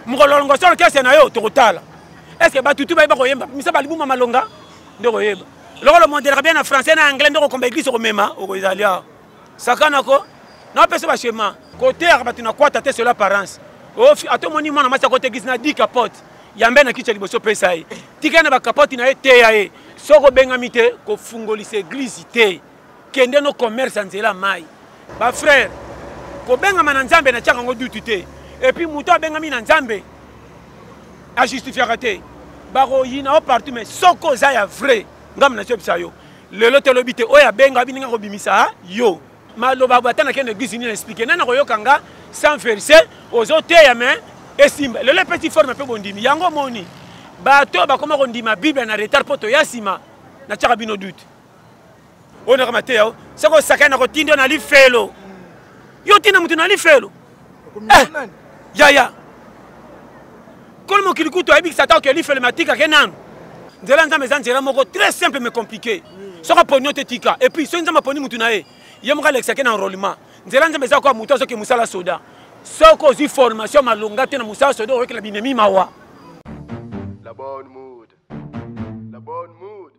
mokolo longoso orchestre na yo tokotala estce batutu bayeba koyemba misa balibuma malonga nde koyeba lokolo mondelaka bien na français na anglais nde okokomba eglise okomema okozali awa sakana ko napesa bashema koteyaka bato na kwata te selo apparence ata omoni mwana mwasi akota eglise na di capote yambe na kicha liboso pesa ye tika na bakapote na ye teya ye soki obengami te kofungolisa eglise te kende no commerce ya nzela mai bafrere kobengama na nzambe natyaka yango dutu te epuis moto abengami na nzambe ajustifiaka te bakoyina o partout mai soki oza ya vrai ngambo natyebisa yo lelo te lobi te oyo abenga bininga kobimisa yo maloba bata nakende eglise nini na explike nani akoyoka nga sans verse ozoteya mai esimba lelo epesi forme mpe bondimi yango omoni bato oyo bakoma kondima bible na retard mpo toya nsima natyaka bino dute oyo naka mateya o soki osakani nakotinda na lifelo yo otinda moto na lifelo eh, yaya kolo mokili kutu ayebikisa ata oke lifelo matikake nanu nzela nzambe eza nzela moko très simple mais compliqué soki aponi yo te tika et puis soki nzambe aponi motu na ye ye moko alekisake na enrollement nzela nzambe eza koya motu azoke mosala soda soki ozwi formation malonga te na mosala soda oyokela binemi mawa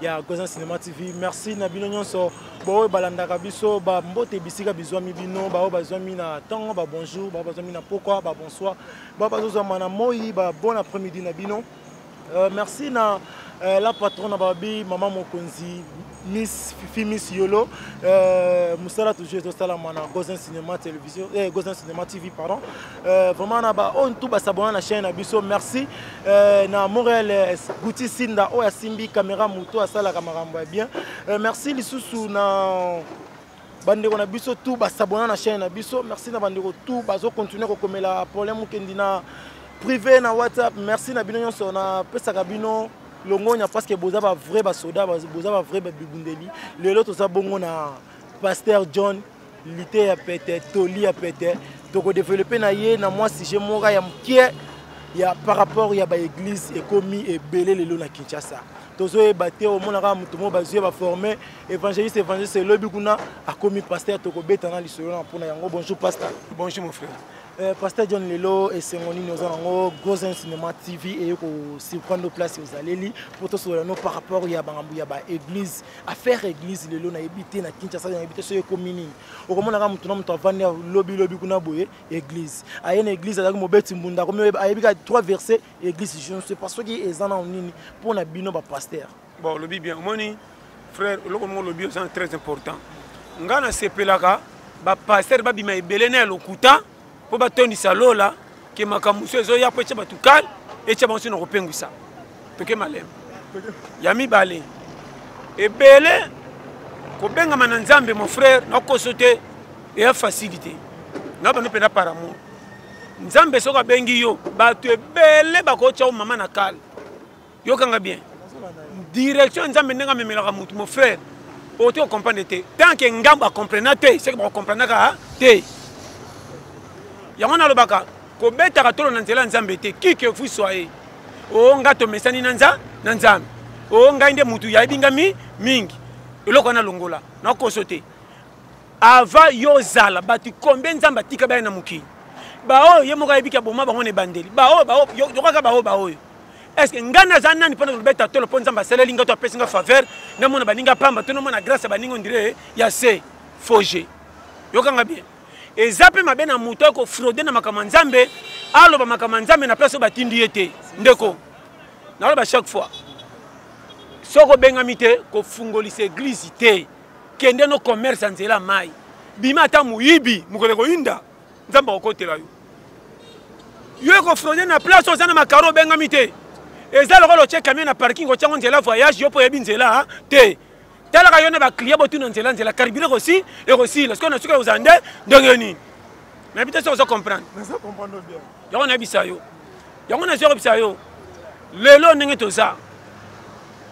ya Goza Cinema TV. Merci na bino nyonso baoyo balandaka biso bambote bisika bizwami bino baoyo bazwami na ntongo babonjour baoyo bazwami na pokwa babonsoir baoyo bazozwama na moi babon après midi na bino euh, merci na euh, la patrone babi mama mokonzi miss fifi miss yolo euh, mosala toujours ezosalama na gosin cinéma télévision eh, gosin cinéma tv pardon Euh, vraiment na ba oyo tout basabona na chaîne na biso merci euh, na montréal euh, guti sinda oyo asimbi caméra moto asalaka makambo ya bien merci lisusu na bandeko na biso tout basabona na chaîne na biso merci na bandeko tout bazocontinue kokomela problème okendi na privé na whatsapp merci na bino nyonso napesaka bino longonya parce que boza bavrai basoda boza bavrai babibundeli lelo toza bongo na pasteur john lite ya pete toli ya pete tokodevelope na ye na mwa sujet moka ya mokie ya par rapport ya baeglise ekomi ebele lelo na kinshasa tozoyeba te omonaka moto moko bazwi baforme évangéliste évangéliste elobi kuna akomi paster tokobeta na lisolo na mpona yango bonjour pasteur bonjour mon frère Euh, pasteur john lelo esengo nini oza nango gosen cinéma tv eye kosurprendre place ozaleli mpo tosolola no par rapport ya bangambo ya baeglise affaire église lelo nayebi te na kinshasa nayebi te soki ekomi nini okomonaka motu na motu avandi lobilobi kuna boye église aye na église azalaki mobeti mbunda akomi ayebi ka trois verset église je ne sais pas soki eza nao nini mpo na bino bapaster bon olobi bien omoni frère oloko moko olobi oza très important ngai nasepelaka bapaster babima ebele na ya lokuta mpo batondisa lola ke makambo mosusu ezoya mpo etya bato kale etya bango soki na kopengwisa toke malembe ya mibale ebele kobengama na nzambe mon frère nakoso te eya fasili te na bando mpenza par amour nzambe soki abengi yo bato ebele bakotya yo mama na kale yokanga bien direction ya nzambe ndenge amemelaka motu mon frère oto okomprendre te tant ke ngambo akomprena te seke bakokomprenaka te yango nalobaka kobetaka tolo na nzela ya nzambe te kike fui soye o ngai tomesani na nza na nzambe o ngai nde motu yayebi ngai mi mingi eloko wana longola nakoso te avant yo ozala bato combien nzambe atika baya na mokili baoyo ye moko ayebiki aboma bango na ebandeli baoyo yokaka baoyo baoyo eske ngai naza nani mpona kobeta tolo mpo nzambe asaleli ngai to apesi ngai faveur namona baninga pamba to namona grâce ya baninga ondire ya se foge yokanga bien eza mpe mabe na moto ya kofraude na makambo ya nzambe aloba makambo ya nzambe na place oyo batindi ye te ndeko naloba chaque fois soki obengami te kofungolisa eglize te kende no commerce ya nzela mai bima ata moyibi mokolo ekoyinda nzambe akokotela yo yo ekofronde na place oza na makaro obengami te eza lokola otye kamio na parking otyango nzela voyage yo mpo oyebi nzela te talaka yo na baclient botuna nzela nzela karibile ekosi ekosila sikoyo na soki oza nde ndenge nini nayebi te soki oza comprendre yango nayebisa yo yango nazo yebisa yo lelo ndenge toza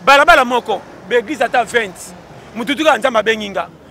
balabala moko baeglise ata 20 motutu kaka nzambe abengi nga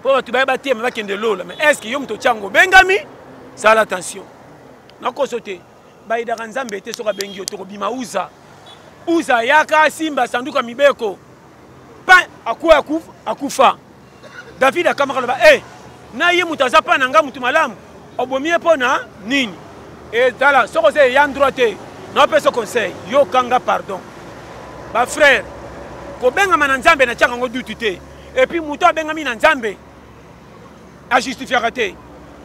mpo bato baye batema bakende lola mais est ce que yo moto otyango obengami sala attention nakoso te bayidaka nzambe te soki abengi yo tokobima uza uza ayaka asimba sanduka mibeko pa akwa akufa david akamaka loba e na ye moto aza mpa na ngai moto malamu obomi ye mpo na nini etala soki oza eya ndroit te naopesa conseil yokanga pardon bafrère kobengama na nzambe natyaka yango dutu te epuis moto abengami na nzambe ajustifiaka te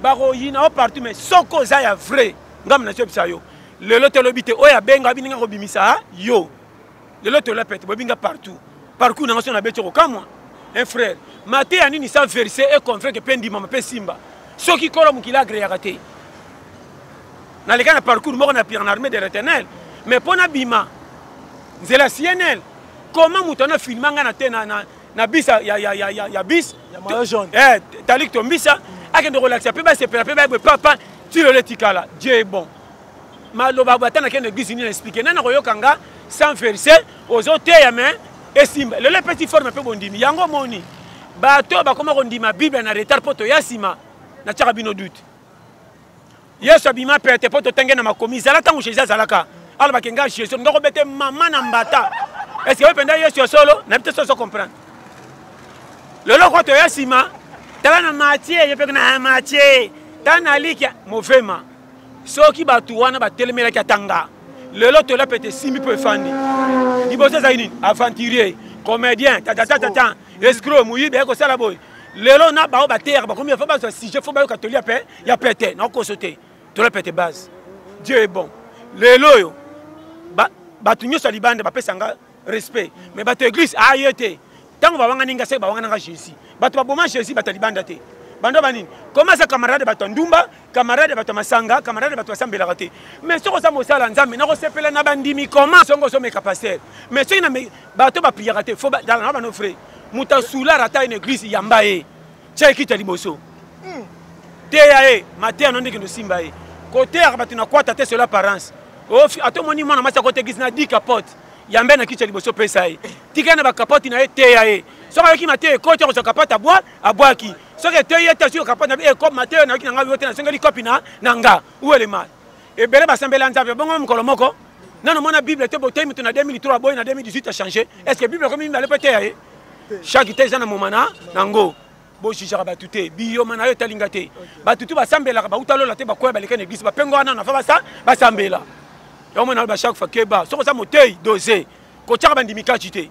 bakoyina o partout mais soko oza ya vrai ngambo na tobisa yo lelo tolobi te oyo abenga bininga kobimisa yo lelo tolapete bobinga partout parcours nanga so nabeti okokamwa un frère mateya nini sa verse e convaincre mpe ndimama mpe simba soki kolo mokili agreyaka te naleka na parcours moko na pierre na armée de retenel mais mpo nabima nzela cnl comment moto ana filma ngai na te na, na, na bis ya, ya, ya, ya, ya bis eh, talik tombisa mm. akende kolakisa mpe basepela mpe bayebwe papa tilelo etikala dieu bon maloba ata nakende eglise nini na explike nani akoyoka nga sans verse ozoteya me esimba lelo epesi forme mpe bondimi yango omoni bato oyo bakoma kondima bible na retard mpo toya nsima natyaka bino dute yesu abima pete mpo totenge na makomi zala ntango jésus azalaka alobaki ngai jésus ndoko bete mama na mbata estce oyo mpenza yesu ya solo nayebi te soso comprendre lelo oko toya nsima tala na matie ye mpe na matie tala na likia movema soki bato wana batelemelaki atanga lelo tola pete esimbi mpo efandi liboso ezali nini aventurier comédien tatatatata escro moyibi aye kosala boye lelo na baoyo bateyaka bakomi fo bazwa sujet fo bayoka tolia mpe ya pete nakokoso te tola pete base dieu est bon lelo oyo bato nyonso ya libanda bapesa nga respect mais bato ya église aye ah, te ntango bawangani nga se bawangana nga jésus bato baboma jésus bato ya libanda te banda banini koma aza camarade bato ya ndumba camarade bato ya masanga camarade bato basambelaka te mais soki oza mosala nzambe nakosepela na bandimi koma songo ozomeka paster mais soki bato bapriyaka te fo na bano frai moto asulara ata une église yamba ye tya ekiti ya liboso hmm. teya ye mateya no ndenge nosimba ye koteyaka bato na kwata te solo apparence ata omoni mwana mwasi akotekisi na di capote yambe na kiti ya liboso pesa ye tika na bakapoti na ye teya ye soki ayoki mateya ekoti akozwa kapoti abwa abwaki soki eteyi ye te soki kapoti na ekopi mateya nayoki na ngai yo te nasengeli kopi na na nga uelema ebele basambeli ya nzambe bongo mokolo moko nano mwana bible te boteyi moto na 2003 boye na 2018 achange est ce que bible ekomi mibale mpe teya ye chaque te eza na moma na yango bojijaka bato te biyoma na yo etalinga te bato tu basambelaka bauta lola te bakoya baleka na eglise bapengo wana nafa basambela yango mona ba chaque fois keba soki oza motei dose kotyaka bandimi kati te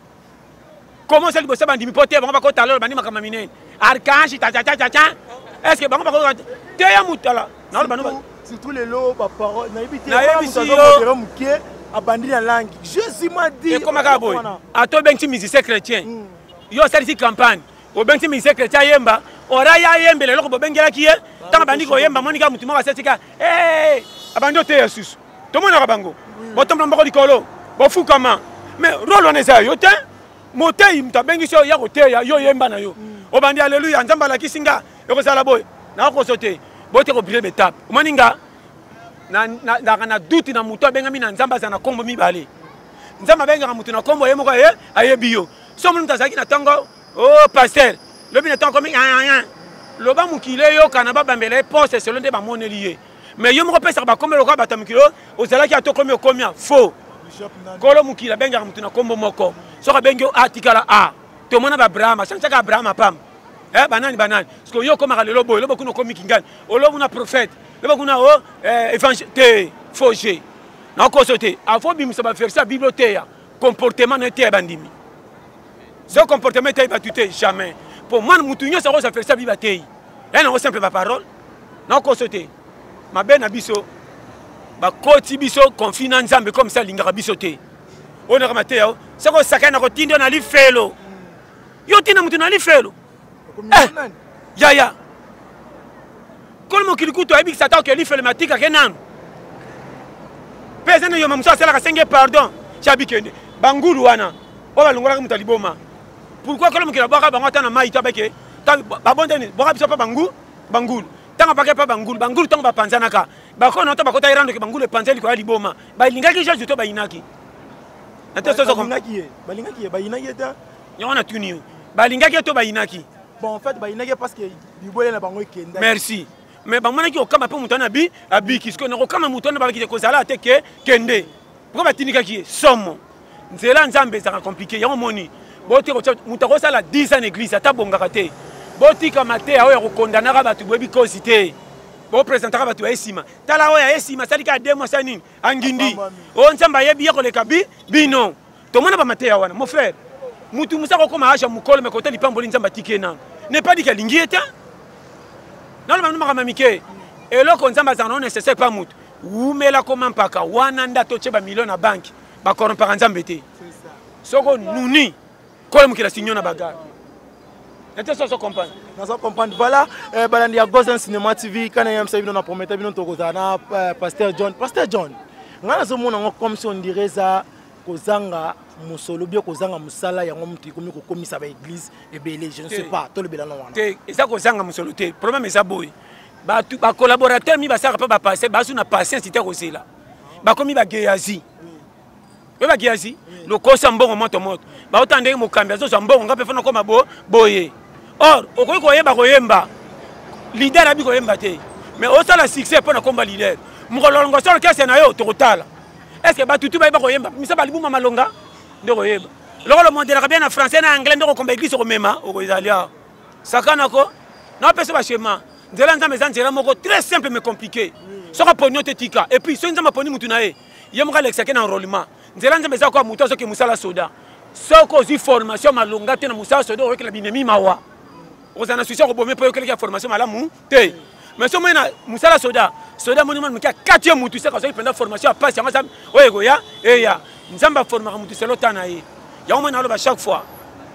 koma oza liboso bandimi mpo te bango bakotalola bandimaka maminene archange tatatatata est ce que bango bakoyoka te ya mutala surtout lelo baparole nayebi te nayebisidere moke abandi na langi jésus m'a dit ekoma kaka boye ata obengisi musicien chrétien hmm. yo osalisi campagne obengisi musicien chrétien ayemba ora ye ayembela eloko bobengelaki ye ntango abandi koyemba amoni kaka motu moko asetika eh, abandi oteya susu tomonaka bango botombola mboko likolo bofukama mais role wana eza yo te moteyi moto abengisi yo ya koteya yo yemba na yo mm. obandi aleluya nzambe alakisi nga ekozala boye nakokoso te boye te kobrile betape omoni nga naka na duti na moto abengami na nzambe azala na nkombo mibale nzambe abengaka moto na nkombo ye moko aye ayebi yo so omoni moto azalaki na ntango o oh, paster lobi na ntango komi loba mokili eyokana babambela ye poste selo nde bamoneli ye mais yo moko opesaka bakombo lokola bato ya mokili oyo ozalaki ata okomi okomia faux kolo mokili abengaka motu na nkombo moko soki abengi yo atikala a tomona baabraham achancaka abraham apamba eh, banani banani siko yo okomaka lelo boye lobo kuna okomi kingani olo kuna prophète lobo kuna o oh, eh, évangile te faux jeu nakoso te afo obimisa baverse ya bible oteya comportement na eteya bandimi so comportement eteyi bato te jamais mpo mwana motu nyonso akozwa verse ya bible ateyi yanango simple baparole nakoso te mabe na biso bakoti biso konfi na nzambe comme ça alingaka biso te oyo naka mateya o soki osakani na kotinda yo na lifelo yo otinda moto na lifelo eh, yaya kolo mokili kutu ayebikisa ata oke lifelo matikake nanu mpe eza na yoma mosusu asalaka senge pardon cabikende bangulu wana oyo balongolaka moto ya liboma pourkui kolo mokili abwaka bango ata na mai to abeke babondani bwaka biso mpe bangu bangulu ntango apaka epa bangulu bangulu ntango bapanzanaka bakona nota bakota erandoki bangulu epanza likolo ya liboma balingaki jesus to bayinaki yango natuni yo balingaki to bayinaki bon en fait bayinaki parce que bibwele na bango ekenda merci mais bamonaki okama mpe moto wana abi abiki sikoyo nakokama moto wana babaki te kozala ate ke kende mpo batindikaki ye somo nzela nzambe ezaka compliqué yango moni botika kotya moto akosala 10 ans na église ata bongaka te botika mateya oyo ya kokondanaka bato boyebi kozi te bopresentaka bato baye nsima tala oyo aye nsima asali kaka de mwasi ya nini angindi oyo nzambe ayebi ye koleka bi bino tomona bamateya wana mon frère motu mosa kokoma age ya mokolo mekota lipamboli nzambe atiki ye nano nepadiki alingi ye te naloba bino makambo ya mike eloko nzambe azala nango necessaire mpa motu wumela koma mpaka wana nde atotye bamilio na banki ba corrompaka nzambe te soko nuni kola mokila sinyo na bagarre ete soso comprendre naza comprendre voilà eh, balandi ya gosen cinéma tv kana yamisa bino na promete bino tokozala na eh, pasteur john pasteur john ngai nazomona yango comme si on dirait eza kozanga mosolo bie kozanga mosala yango moto ekomi kokomisa baeglise ebele je ne sais pas tolobela na wana te eza kozanga mosolo te problème eza boye bacollaborateur mi basalaka mpe bapaster basu na patience te kozela bakomi bageyazi oyo bageyazi lokosa mbongo moto moto baotala ndenge mokambi azozwa mbongo ngai mpe fana okoma boye or okoki koyeba koyemba lider abi koyemba te mais osala succès mpo na komba lider mokolo longo solo kese na yo tokotala est ce que batutu bayeba koyemba misa balibuma malonga nde koyeba lokolo mondelaka bien na français na anglais nde kokomba eglise okomema okozali awa sakana ko napesa bashema nzela ya nzambe eza nzela moko très simple mais compliqué soki aponi yo te tika et puis soki nzambe aponi motu na ye ye moko alekisake na enrollement nzela nzambe eza koya motu azoke mosala soda soki ozwi formation malonga te na mosala soda oyokela binemi mawa ozala na susi ya kobome mpo oyokelaki ya formation malamu te mais soki omoni na mosala soda soda moni mwana moke akati ye motu seka soki mpenza formation ya mpasi yango aza oyo ekoya eya nzambe aformaka motu selo ta na ye yango moni naloba chaque fois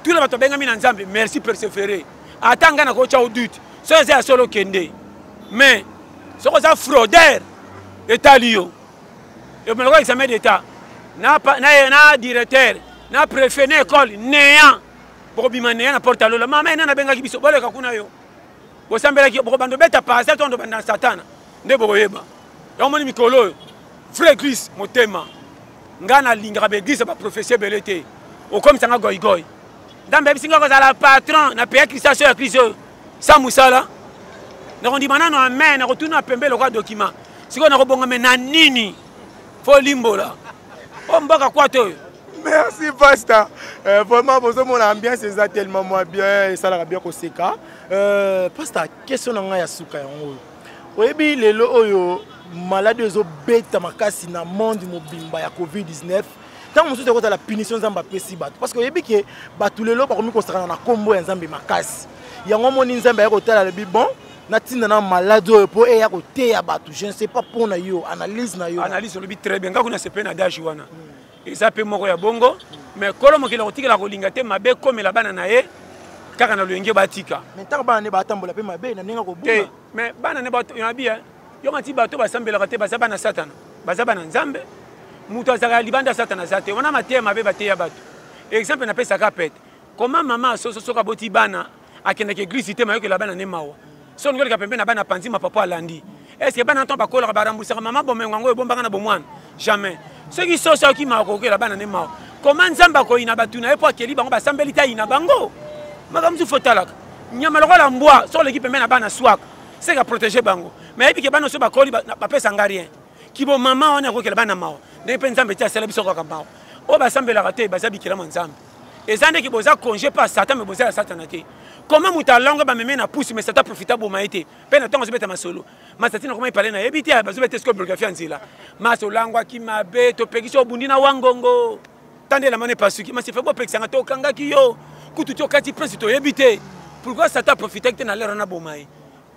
tout le bato abengami na nzambe merci persevere ata ngai nakotya o dute soki eza ya solo okende mais soki oza frauder etali yo emeloko examen d'état na, na, na directeur na préfet na école néant bokobima néant na porte ya lola mama ena nabengaki biso boleka kuna yo bosambelaki bokobanda obeta parasel to ndobanda na satana nde bokoyeba yango moni mikolo oyo vrai église motema ngai nalingaka baeglise ya baprofesi ebele te okomisa ngai goigoi nzambe ayebisi ngai kozala patron na peya kristiaso ya kristo oyo sa mosala nakondima nano amen nakotuna pembe lokola dokima sikoyo nakobongame na nini mpo limbola o mbaka kwata oyo merci pasta euh, vraiment bozomona ambiance eza tellement mwa bien esalaka bien koseka euh, pasta question na ngai ya suka yango oyo oyebi lelo oyo maladi oyo ezobeta makasi na monde mobimba ya covid-19 ntango mosusu ekozala punition nzambe apesi bato parce que oyebi ke bato lelo bakomi kosakana na nkombo ya nzambe makasi yango omoni nzambe aye kotala alobi bon natinda na maladi oyo mpo eya koteya bato je ne sais pas mpo na yo analyse na yo analyse olobi très bien ngai kuna sepe na dage wana hmm. eza mpe moko ya bongo mais kolo mokili akotikela kolinga te mabe ekomela bana na ye kaka na loyenge batika mais ntango bana ne batambola mpe mabe na ndenge akobuna te mais bana ne yabi eh, yo ngati bato basambelaka te baza bana satana baza bana nzambe moto azalaka ya libanda satana aza te wana mateya mabe bateya bato exemple napesaka pete koma mama asoso soki aboti bana akendaka eglise te mayokela bana ne mawa so olingi oleka pembe na bana panzi mapapa alandi est ce que bana ntango bakolaka baremboursaka mama bomengo yango ebombaka na bomwana jamais soki soso akimaka kokela bana ne mawa koma nzambe akoyina bato na ye mpo akeli bango basambeli te ayina bango makambo mosusu fotalaka nyama lokola mbwa so oleki pembe na bana swaka seke aprotege bango mai ayebike bana oso bakoli bapesa nga rien kibo mama wana akokela bana mawa ndenge mpe nzambe te asala biso kaka mawa oyo basambelaka te baza bikelama nzambe eza ndeki boza congé mpe ya satan me boza ya satana te koma moto alangwe bameme na pusu me satan profita boma ye te mpe na ntango azobeta masolo masati na koma epale na yebi te bazobeta esiko biografi ya nzela masi olangwaki mabe topekisi obundi na wangongo tanda elamana epasuki masi fe bopekisanga tokangaki yo kutu ti okati prince toyebi te pourkoi satan profitaki te na lere wana boma ye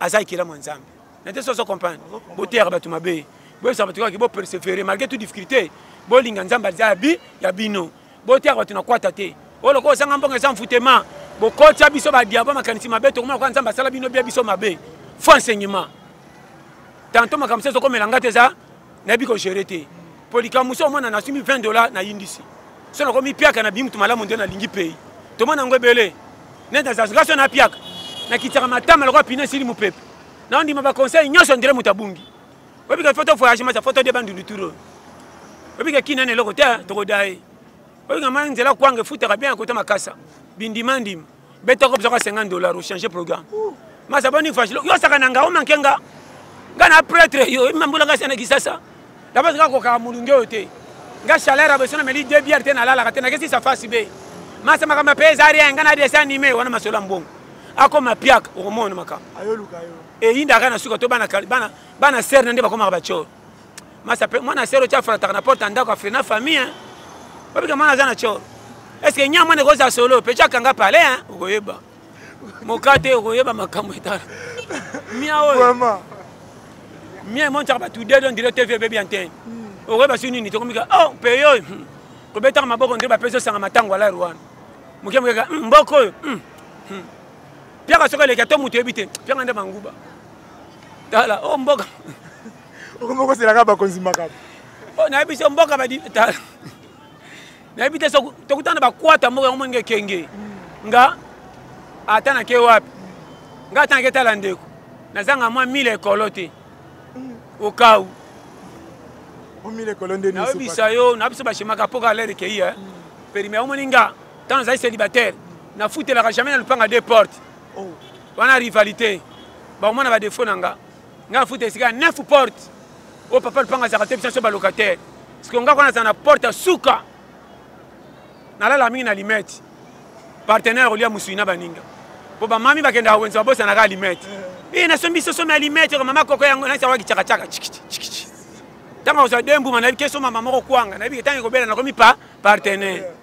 aza ekelamu ya nzambe na te soso comprendre boteyaka bato mabe boyebisaka bato kaka bopersevere malgré tout difficulté bolinga nzambe aza ya bino botiaka bato na kwata te oyo lokola ozanga mbongo eza mfutema bokotya biso badiabo makanisi mabe tokomona kwa nzambe asala bino bia biso mabe fo enseignement tanto makambo mosusu ezokomela ngai te eza nayebi kogere te mpo likambo mosusu omona nasumi 20 dollar nayindisi so nakomi piaka na bimutu malamu nde nalingi pei tomona yango ebele neti nazazga so napiaka nakitisaka matama lokola pina esili mopepe naondima baconseil nyonso ndire moto abungi oyebi ke foto voyage masa foto de bandundu turo oyebi ke kina na eloko te tokoda ye oyebi ke mai nzela kwanga efutaka bien akota makasa bindima ndima betoko bizaka 50 dollar ochange programme masa boni fashilo yo osaka na nga omanke nga nga na pretre yo oyebi mambola nga sana kisasa dabasi kaka kokaka molunge oyo te nga chaleur ya beso na meli de biere te nalalaka te nakesi safasi be masa makambo mpe eza rien nga na desi anime wana masolo ya mbongo akoma piaka okomona makambo eyindaka na suka to bana bana bana sœur na nde bakomaka bachor masa pe mwana sœur otia frataka na porte ndako afre na famille hein babika mwana aza na chor est-ce que nyama ne koza solo pe chaka nga pale hein okoyeba mokate okoyeba makambo etala mia oyo vraiment mia emonchaka bato de don dire tv ebebi antene hmm. okoyeba si nini tokomika oh peyo oyo hmm. kobetaka maboko nde bapesi osanga matango alari wana moke mokeka hmm, mboko oyo piaka soki eleki ato moto oyebi te piaka nde manguba tala o oh, mboka okomokoselaka bakonzi makambo oh, nayebi so mboka badi tala nayebi te tokutana bakwata mboka yango moninga ekenge nga ata nake wapi nga ata nake tala ndeko nazanga mwa mile ekolo te okau nayebisa yo na biso bashemaka mpoka alere kei eh? perime omoni nga Tant nazali célibataire, na futelaka jamais na lupanga deux portes. Oh. Wana rivalité. Ba omona ba défaut na nga. Nga futa esika neuf portes. Oh papa lupanga azaka te biso ba locataire. Parce que nga kona zana porte ya suka. Nalala mingi na limette. Partenaire olia musui na baninga. Po ba mami bakenda wenza bosa na ka limette. Eh na sombi soso ma limette ko mama koko yango na sawa kichaka chaka chikichi chikichi. Tanga osa dembu manabi keso mama moko kwanga. Nabi tangi kobela na komi pa partenaire. Yeah.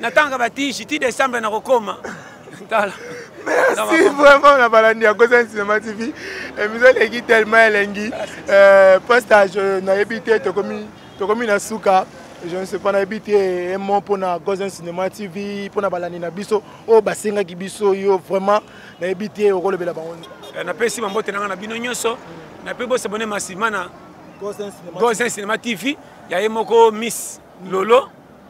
natangaka batishi ti decembre nakokoma tala merci vraiment na balandi ya kosa cinéma tv émission eh, eleki tellement elengi euh, postage euh, nayebi te tokomi tokomi na suka je ne sais pas nayebi te emo mpona gosen cinéma tv mpona balandi na biso oyo basengaki biso yo vraiment nayebi te okolobela bango eh, napesi bambote na ngai na bino nyonso nape bosabone masima na gosen cinéma tv ya ye moko miss lolo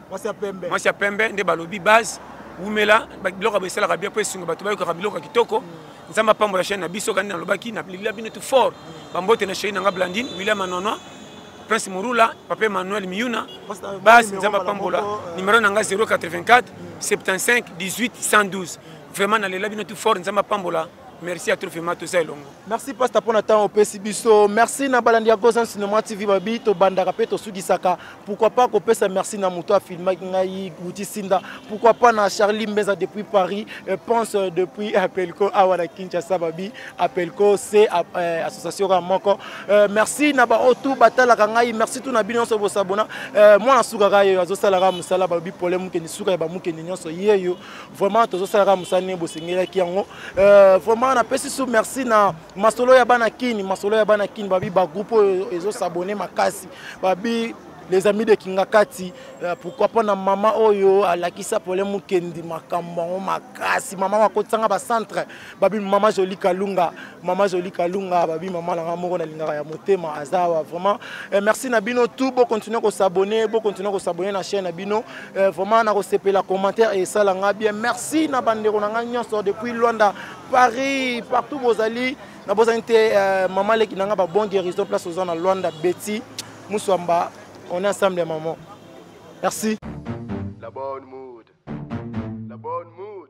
mwasi ya pembe mwasi ya pembe nde balobi base wumela biloko ya esalaka bien mpo esunga bato bayokaka biloko ya kitoko mm. nzambe apambola chaine na biso kandi nalobaki nalingila bino tu fort mm. bambote na cheri na nga blandine william anonoi prince morula papa emmanuel miuna base nzambe apambola euh, numero na nga 084 75 18 112 vraiment nalela bino tu fort nzambe apambola merci atro vraimen toza elongo merci pasta mpona ntango opesi biso merci na balandi ya gozan cinema tv babi tobandaka mpe tosukisaka pourkui pas kopesa merci na moto afilmaki ngai guti sinda pourkui pas na charlie mbeza depuis paris euh, pense euh, depuis apelco awa na kinshasa babi apelco se euh, association kaka moko merci na baoyo tu batalaka ngai merci tu na bino nyonso bosabona mwana sukaka yeyo azosalaka mosala babi pole mokeni suka ya bamokeni nyonso yeyo vraiment tozosala kaka mosala ndenge bosengelaki yango euh, vraiment napesi su merci na masolo ya bana kini masolo ya bana kini babi bagroupe oyo ezosabone makasi babi les amis de kingakati euh, pourquoi pas na mama oyo alakisa pole mokendi makambo yango makasi mama makotisanga bacentre babi mama zoli kalunga mama zoli kalunga babi mama na nga moko nalingaka ya motema azawa vraiment eh, merci na bino tout bocontinue kosabone bocontinue kosabone na chaîne na bino eh, vraiment nakosepela commentaire esala nga bien merci na bandeko na nga nyonso depuis luanda paris partout bozali nabozani te eh, mama leki na nga babon guérison place oza na luanda beti muswamba on est ensemble ya maman merci la bonne mood la bonne mood